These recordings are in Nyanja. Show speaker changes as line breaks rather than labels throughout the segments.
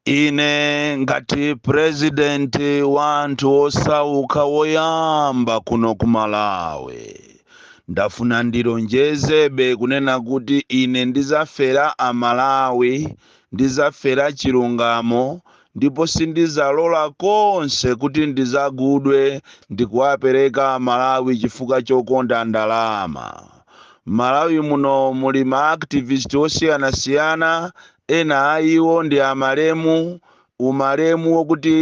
ine ngati purezidenti wa anthu osauka woyamba kuno ku malawi ndafuna ndilonjezebe kunena kuti ine ndizafera amalawi ndizafera chilungamo ndipo sindizalola konse kuti ndizagudwe ndikuwapereka amalawi chifukwa chokonda ndalama M'Malawi muno muli ma activist osiyanasiyana, ena a iwo ndi a malemu, u malemu wokuti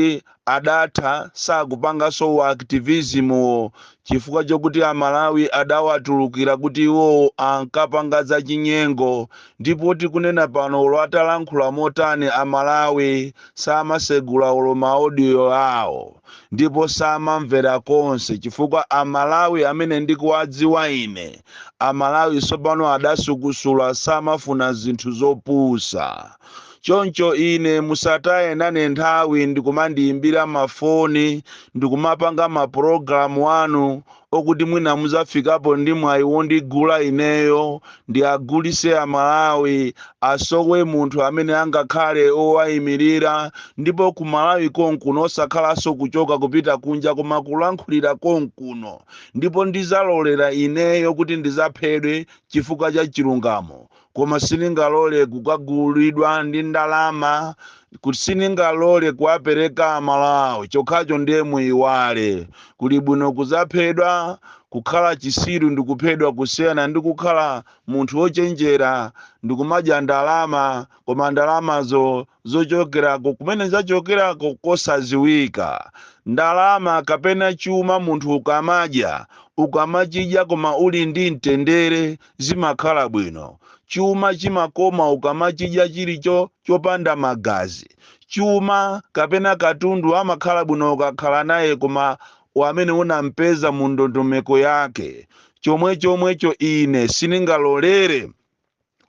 adatha sakupangaso u activism wo chifukwa chokuti a Malawi adawatulukira kuti iwowo ankapanga za chinyengo Ndipo tikunena pano olo atalankhula motani a Malawi samasegula olo ma audio awo ndipo samamvera konse chifukwa a Malawi amene ndikuwadziwa ine a Malawi sopano adasukusula samafuna zinthu zopusa choncho ine musataye nane nthawi ndikumandiyimbira ma foni ndikumapanga ma program anu okuti mwina muzafikapo ndi mwayi wondigula ineyo ndiagulise amalawi asowe munthu amene angakhale owayimilira ndipo ku malawi konkuno osakhalaso kuchoka kupita kunja koma kulankhulira konkuno ndipo ndizalolera ineyo kuti ndizaphedwe chifukwa cha chilungamo koma siningalole kukagulidwa ndi ndalama kuti siningalole kuwapereka amalawi chokhacho ndiye muyiwale kuli bwino kuzaphedwa kukhala chisiru ndi kuphedwa kusiyana ndi kukhala munthu wochenjera ndi kumadya ndalama koma ndalamazo zochokerako kumene zachokerako kosaziwika ndalama kapena chuma munthu ukamadya ukamachidya koma uli ndi mtendere zimakhala bwino. Chuma chimakoma ukamachidya chili chopanda magazi. Chuma kapena katundu amakhala bwino ukakhala naye koma wamene unampeza mu ndondomeko yake. Chomwechomwecho ine siningalolere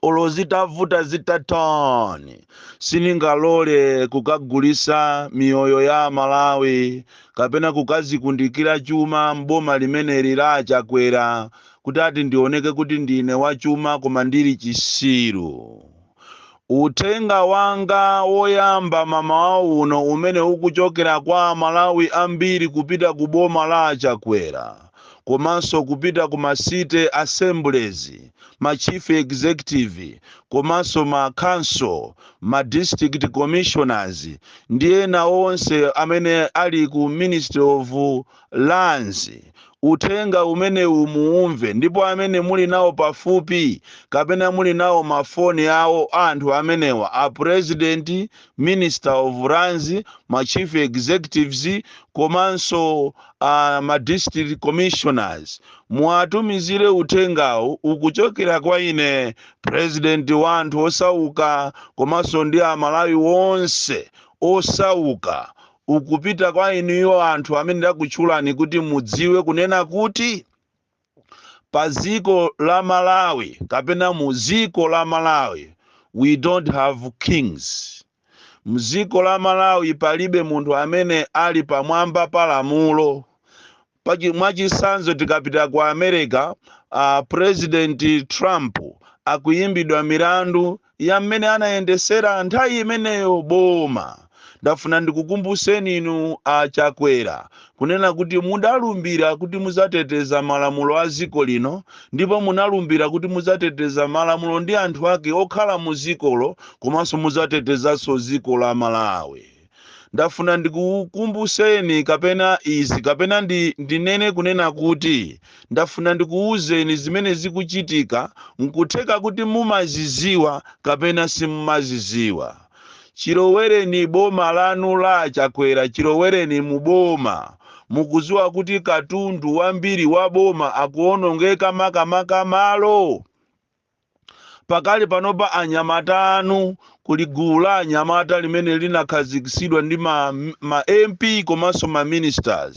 olo zitavuta zitani siningalole kukagulisa miyoyo ya amalawi kapena kukazikundikira chuma m'boma limeneli la achakwera kuti ati ndioneke kuti ndine wachuma koma ndili chisiru. Uthenga wanga woyamba mamawa uno umene ukuchokera kwa amalawi ambiri kupita ku boma la a Chakwera komanso kupita ku ma city assemblies, ma chief executive komanso ma council, ma district commissioners ndi ena onse amene ali ku ministry of lands, uthenga umenewu muumve ndipo amene muli nawo pafupi kapena muli nawo ma phone awo a anthu amenewa a president, minister of lands, ma chief executives komanso a ma district commissioners muwatumizire uthengawu ukuchokera kwa ine president wa anthu osauka komanso ndi a Malawi onse osauka ukupita kwa inuyo anthu amene ndakutchulani kuti mudziwe kunena kuti pa dziko la malawi kapena mu dziko la malawi we don't have kings mdziko la malawi palibe munthu amene ali pamwamba pa lamulo Mwachitsanzo tikapita ku America, uh, President Trump akuyimbidwa milandu ya mmene anayendesera nthawi imeneyo boma. Ndafuna ndikukumbuseni inu a Chakwera kunena kuti mudalumbira kuti muzateteza malamulo a dziko lino ndipo munalumbira kuti muzateteza malamulo ndi anthu ake okhala mu dzikolo komanso muzatetezanso dziko la Malawi. Ndafuna ndikukumbuseni kapena izi kapena ndinene kunena kuti ndafuna ndikuwuzeni zimene zikuchitika nkutheka kuti mumaziziwa kapena simumaziziwa. Chilowereni boma lanu la achakwera chilowereni mu boma mukuziwa kuti katundu wambiri wa boma akuwonongeka makamaka malo. Pakali panopa anyamata anu kuli gulu la anyamata limene linakhazikitsidwa ndi ma, ma MP komanso ma ministers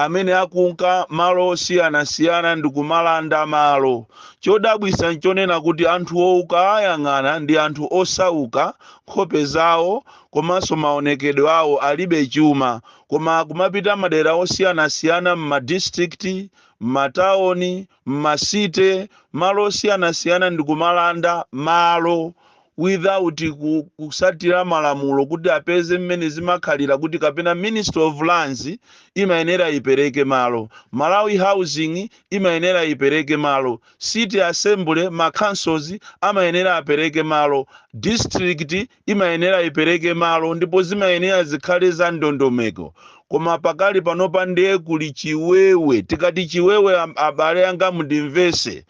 amene akunka malo osiyanasiyana ndi kumalanda malo. Chodabwisa nchonena kuti anthuwo ukaayang'ana ndi anthu osauka, nkhope zawo komanso maonekedwe awo alibe chuma koma akumapita madera osiyanasiyana mma districts, mma town, mma city malo osiyanasiyana ndikumalanda malo without kusatira malamulo kuti apeze mmene zimakhalira kuti kapena ministry of lands imayenera ipereke malo malawi housing imayenera ipereke malo city assembly ma councils amayenera apereke malo district imayenera ipereke malo ndipo zimayenera zikhale za ndondomeko koma pakali panopa ndiye kuli chiwewe tikati chiwewe am- abale anga mundimvese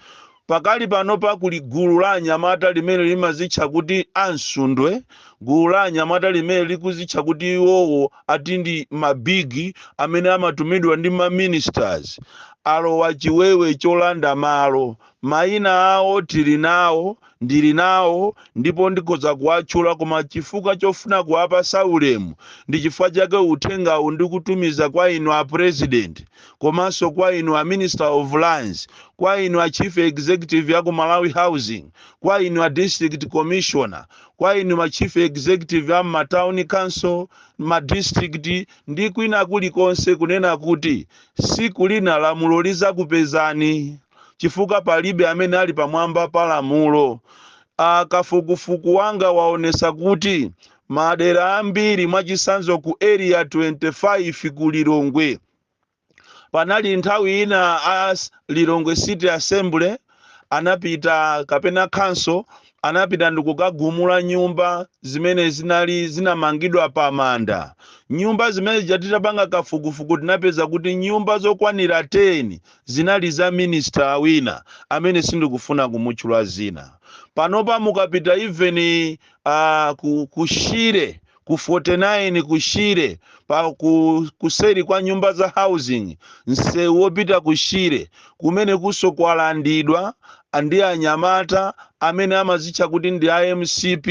pakali panopa kuli gulu la anyamata limene limazitcha kuti amsundwe gulu la anyamata limene likuzitcha kuti iwowo ati ndi mabigi amene amatumidwa ndi maministers alowa chiwewe cholanda malo Mayina awo tili nawo, ndili nawo ndipo ndikhoza kuwatchula koma chifukwa chofuna kuwapatsa ulemu ndi chifukwa chake uthengawu ndikutumiza kwa inu a President komanso kwa inu a Minister of Lands, kwa inu a Chief Executive aku Malawi Housing, kwa inu a District Commissioner, kwa inu ma Chief Executive a m'ma Town Council, ma District ndi kwina kulikonse kunena kuti siku lina lamulo lizakupezani. chifukwa palibe amene ali pamwamba pa lamulo. A kafukufuku wanga waonesa kuti madera ambiri mwachisanzo ku area 25 ku Lilongwe panali nthawi ina a Lilongwe City Assembly anapita kapena council anapita ndikukagumula nyumba zimene zinali zinamangidwa pa manda nyumba zimene zija titapanga kafukufuku tinapeza kuti nyumba zokwanira 10 Zinali za minister wina amene sindikufuna kumutchula dzina. Panopa mukapita even aah ku ku Shire ku 49 ku Shire pa ku kuseri kwa nyumba za housing msewu wopita ku Shire kumenekunso kwalandidwa ndi anyamata amene amazitcha kuti ndi a mcp.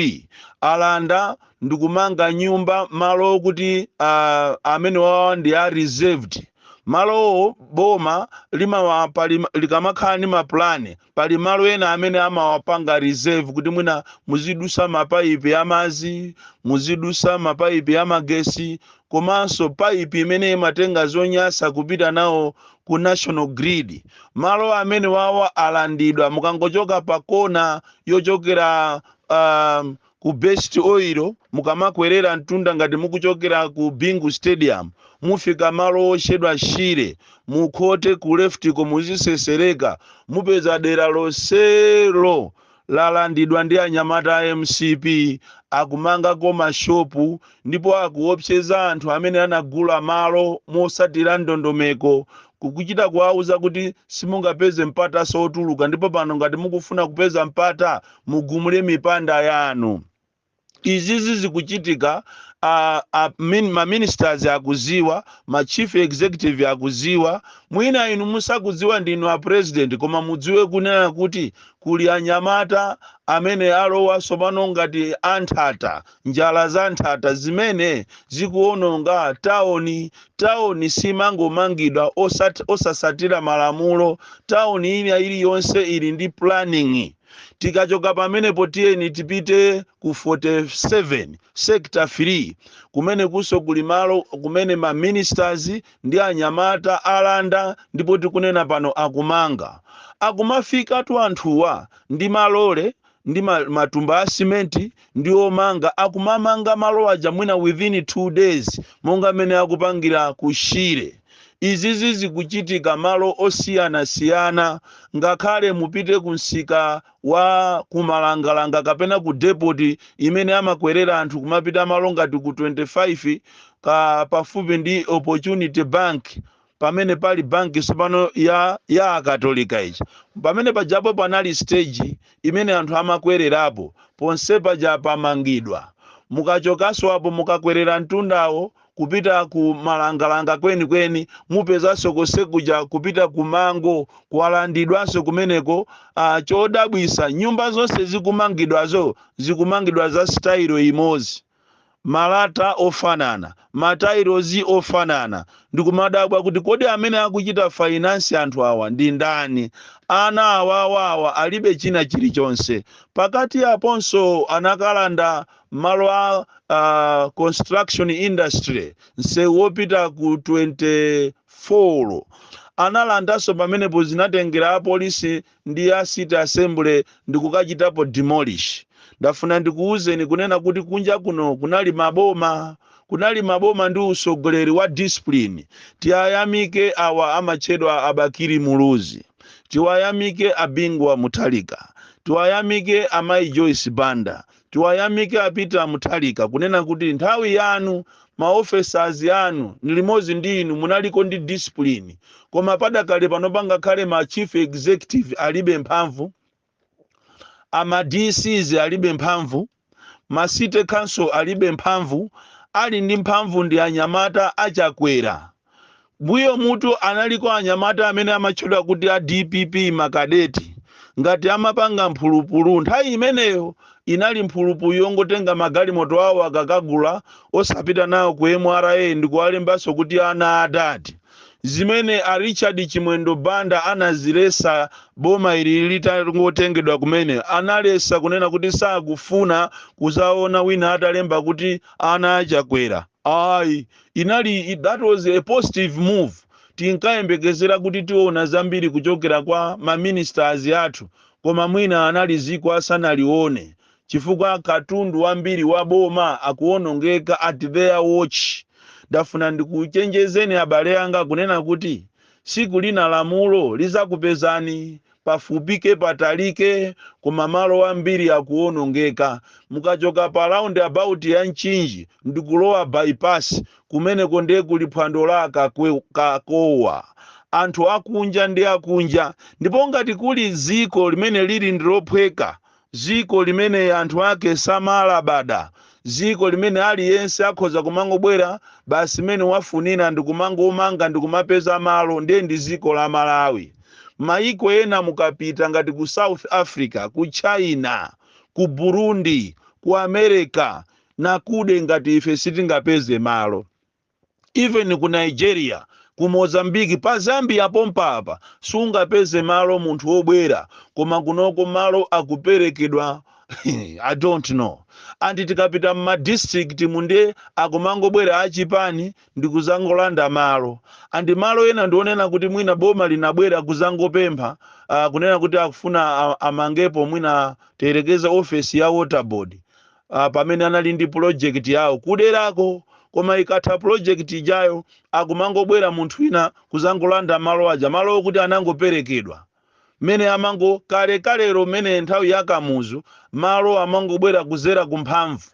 Alanda ndikumanga nyumba malo okuti aah amenewawa ndi a reserved. Malowo boma limawa pali likamakhala ndi mapulani pali malo ena amene amawapanga reserve kuti mwina muzidusa mapaipi amazi muzidusa mapaipi amagesi komanso paipi imene imatenga zonyasa kupita nawo ku national grid malo amenewawa alandidwa mukangochoka pa kona yochokera uh, ku best oil mukamakwerera mtunda ngati mukuchokera ku bingu stadium mufika malo otchedwa shire mukhote ku leftiko muzisesereka mupeza dera lonselo lalandidwa ndi anyamata a mcp akumangako mashopu ndipo akuopseza anthu amene anagula malo motsatira ndondomeko kukuchita kuwauza kuti simungapeze mpatanso otuluka ndipo pano ngati mukufuna kupeza mpata mugumule mipanda yanu izizi zikuchitika a, a, min, ma ministers akuziwa ma chief executive akuziwa mwina inu osakudziwa ndinu a president koma mudziwe kunena kuti kuli anyamata amene alowa tsopano ngati anthata njala za nthata zimene zikuononga taoni taoni simangomangidwa osat- osasatira malamulo taoni ina iliyonse ili ndi planning tikachoka pamenepo tiyeni tipite ku 47 sector 3 kumene kunso kuli malo kumene ma ministers ndi anyamata alanda ndipo tikunena pano akumanga akumafikatu anthuwa ndi malole ndi ma- matumba a simenti ndi womanga akumamanga malo aja mwina within two days monga mmene akupangira ku shire izizi zikuchitika malo osiyanasiyana ngakhale mupite ku msika wa kumalangalanga kapena ku depoti imene amakwerera anthu kumapita malo ngati ku 25 kapafupi ndi opportunity bank pamene pali banki tsopano ya ya akatolika ija pamene pajapo panali stage imene anthu amakwererapo ponse paja pamangidwa mukachokanso apo mukakwerera mtundawo kupita ku malangalanga kwenikweni mupezanso konse kuja kupita ku mango kwalandidwanso kumeneko ah, chodabwisa nyumba zonse zikumangidwazo zikumangidwa za sitayilo imodzi malata ofanana, matailosi ofanana, ndikumadabwa kuti kodi amene akuchita finance anthu awa ndi ndani? Ana awawa awa alibe china chilichonse. Pakati paponso anakalanda malo a a construction industry, nsewu wopita ku 24. Analandanso. Pamenepo zinatengera apolisi ndi ya city assembly ndikukachitapo demolish ndafuna ndikuwuzeni kunena kuti kunja kuno kunali maboma kunali maboma ndi usogoleri wa discipline tiwayamike awa amatchedwa a Bakili Muluzi tiwayamike a Bingu wa Mutharika tiwayamike amayi Joyce Banda Tiwayamike a Peter Mutharika kunena kuti nthawi yanu ma officers anu limodzi ndi inu munaliko ndi discipline koma padakali pano ngakhale ma chief executive alibe mphamvu, a ma DCs alibe mphamvu, ma city council alibe mphamvu, ali ndi mphamvu ndi anyamata a Chakwera. Mbuyomutu analiko anyamata amene amatchedwa kuti a dpp makadeti ngati amapanga mphulupulu nthawi imeneyo inali mphulupulu yongotenga magalimoto awo akakagula osapita nawo ku mra ndikuwalembanso kuti ana adadi zimene a Richard Chimwendo Banda anazilesa boma ili litangotengedwa kumene analesa kunena kuti sakufuna kuzaona wina atalemba kuti ana a Chakwera Ayi, inali i, that was a positive move. Tinkayembekezera kuti tiona zambiri kuchokera kwa ma ministers athu koma mwina anali dziko asanalione chifukwa katundu wambiri wa boma akuonongeka at their watch. Ndafuna ndikuchenjezeni abale anga kunena kuti siku lina lamulo lizakupezani pafupike patalike koma malo ambiri akuonongeka mukachoka pa round about ya Mchinji ndikulowa bypass kumeneko ndiye kuli phwando la akakwe- kakowa anthu akunja ndi akunja ndipo ngati kuli dziko limene lili ndilophweka dziko limene anthu ake samalabada, dziko limene aliyense akhoza kumangobwera basi mmene wafunira ndi kumangomanga ndi kumapeza malo, ndiye ndi dziko la Malawi. Mayiko ena mukapita ngati ku South Africa, ku China, ku Burundi, ku America, akuda ngati ife sitingapeze malo. even ku nigeria ku mozambique pa zambia pompa apa sungapeze malo munthu wobwera koma kunoko malo akuperekedwa i don't know anti tikapita mma district mu nde akumangobwera achipani ndikuzangolanda malo and malo ena ndionena kuti mwina boma linabwera kuzangopempha uh, kunena kuti akufuna a- amangepo mwina tiyerekeze ofesi ya water board ah, pamene anali ndi project yawo kuderako koma ikatha project ija akumangobwera munthu wina kuzangolanda malo aja malo okuti anangoperekedwa mmenemo kale kalero mmene nthawi ya kamuzu malo amangobwera kuzera kumphamvu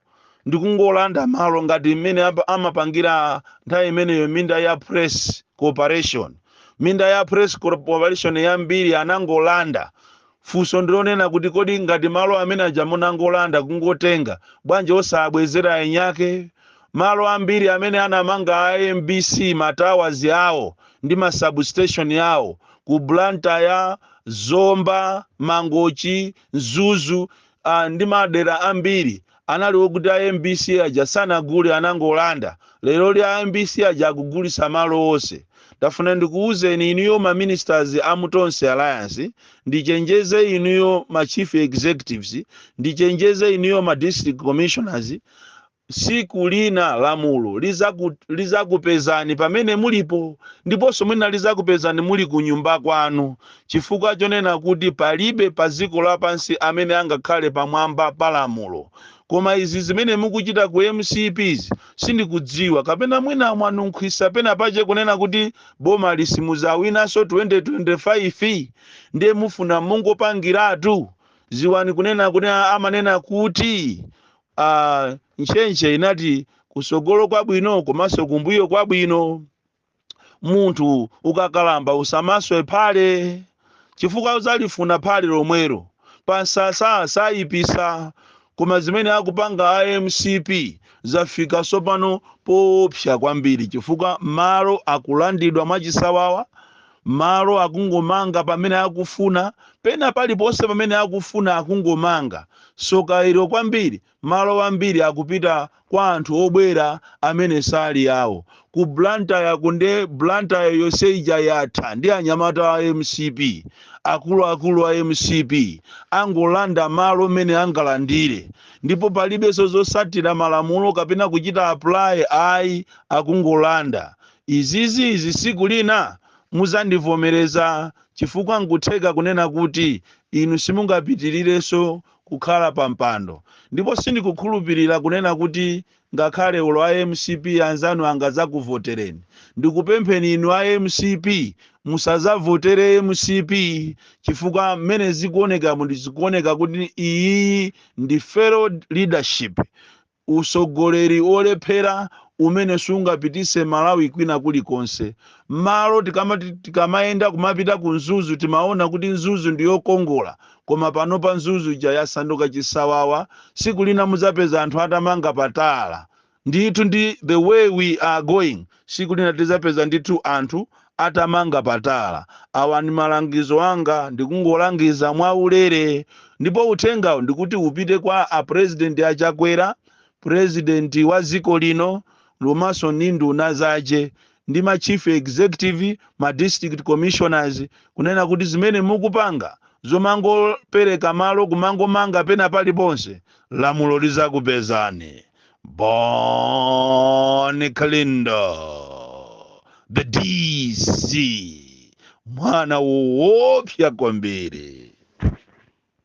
ndikungolanda malo ngati mmene apa- amapangira nthawi imeneyo minda ya press corporation minda ya press corporation yambiri anangolanda Funso ndilonena kuti kodi ngati malo amene ajawa munangolanda kungotenga bwanji osaabwezera eni ake? Malo ambiri amene anamanga a mbc ma towers awo ndi ma sub station awo ku Blantyre, Zomba, Mangochi, Mzuzu and ndi madera ambiri anali okuti a mbc aja sanagule anangolanda, leroli a mbc aja akugulitsa malo onse. Ndafuna ndikuuzeni inuyo ma ministers a mu Tonse Alliance, ndichenjeze inuyo ma chief executives, ndichenjeze inuyo ma district commissioners, tsiku lina lamulo lizaku, lizakupezani pamene mulipo ndiponso mwina lizakupezani muli kunyumba kwanu Chifukwa chonena kuti palibe pa dziko lapansi amene angakhale pamwamba pa lamulo. Koma izi zimene mukuchita ku mcp zi sindikudziwa kapena mwina mwanunkhiza pena pache kunena kuti bomali simudzawinaso 2025 ndiye mufuna mungopangilatu dziwani kunena kuti amanena kuti aah ntchentche inati kusogolo kwabwino komaso kumbuyo kwabwino. munthu ukakalamba usamaswe phale chifukwa udzalifuna phale lomwelo pansasa sayipisa koma zimene akupanga a mcp zafika sopano poopsa kwambiri chifukwa malo akulandidwa mwachisawawa malo akungomanga pamene akufuna pena paliponse pamene akufuna akungomanga soka ilo kwambiri Malo ambiri akupita kwa anthu obwera amene sali awo. Ku Blantyre ku nde Blantyre yonse ija yatha ndi anyamata a mcp. Akuluakulu a mcp angolanda malo mmene angalandire ndipo palibenso zotsatira malamulo kapena kuchita apply ayi akungolanda. Izizi izi tsiku lina mudzandivomereza chifukwa nkutheka kunena kuti inu simungapitirirenso kukhala pa mpando ndipo sindikukhulupilira kunena kuti ngakhale olo a mcp anzanu angadzakuvotereni ndikupempheni inu a mcp musadzavotere mcp chifukwa mmene zikuonekamu ndizikuoneka kuti iyiyi ndi failed leadership Usogoleri olephera umene siungapititse Malawi kwina kuli konse. Malo tikamayenda kumapita ku Mzuzu timaona kuti Mzuzu ndi yokongola koma panopa Mzuzu ija yasanduka chisawawa siku lina muzapeza anthu atamanga pa tala. Ndithu ndi the way we are going. Siku lina tizapeza ndithu anthu atamanga patala. Awa ndi malangizo anga ndikungolangiza mwa ulere ndipo uthengawu ndikuti upite kwa a president a Chakwera, president wa dziko lino komanso ndi nduna zache ndi ma chief executive, ma district commissioners kunena kuti zimene mukupanga zomangopereka malo kumangomanga pena paliponse lamulo lizakupezani. Bon Kalindo, the DC, mwana woopsa kwambiri.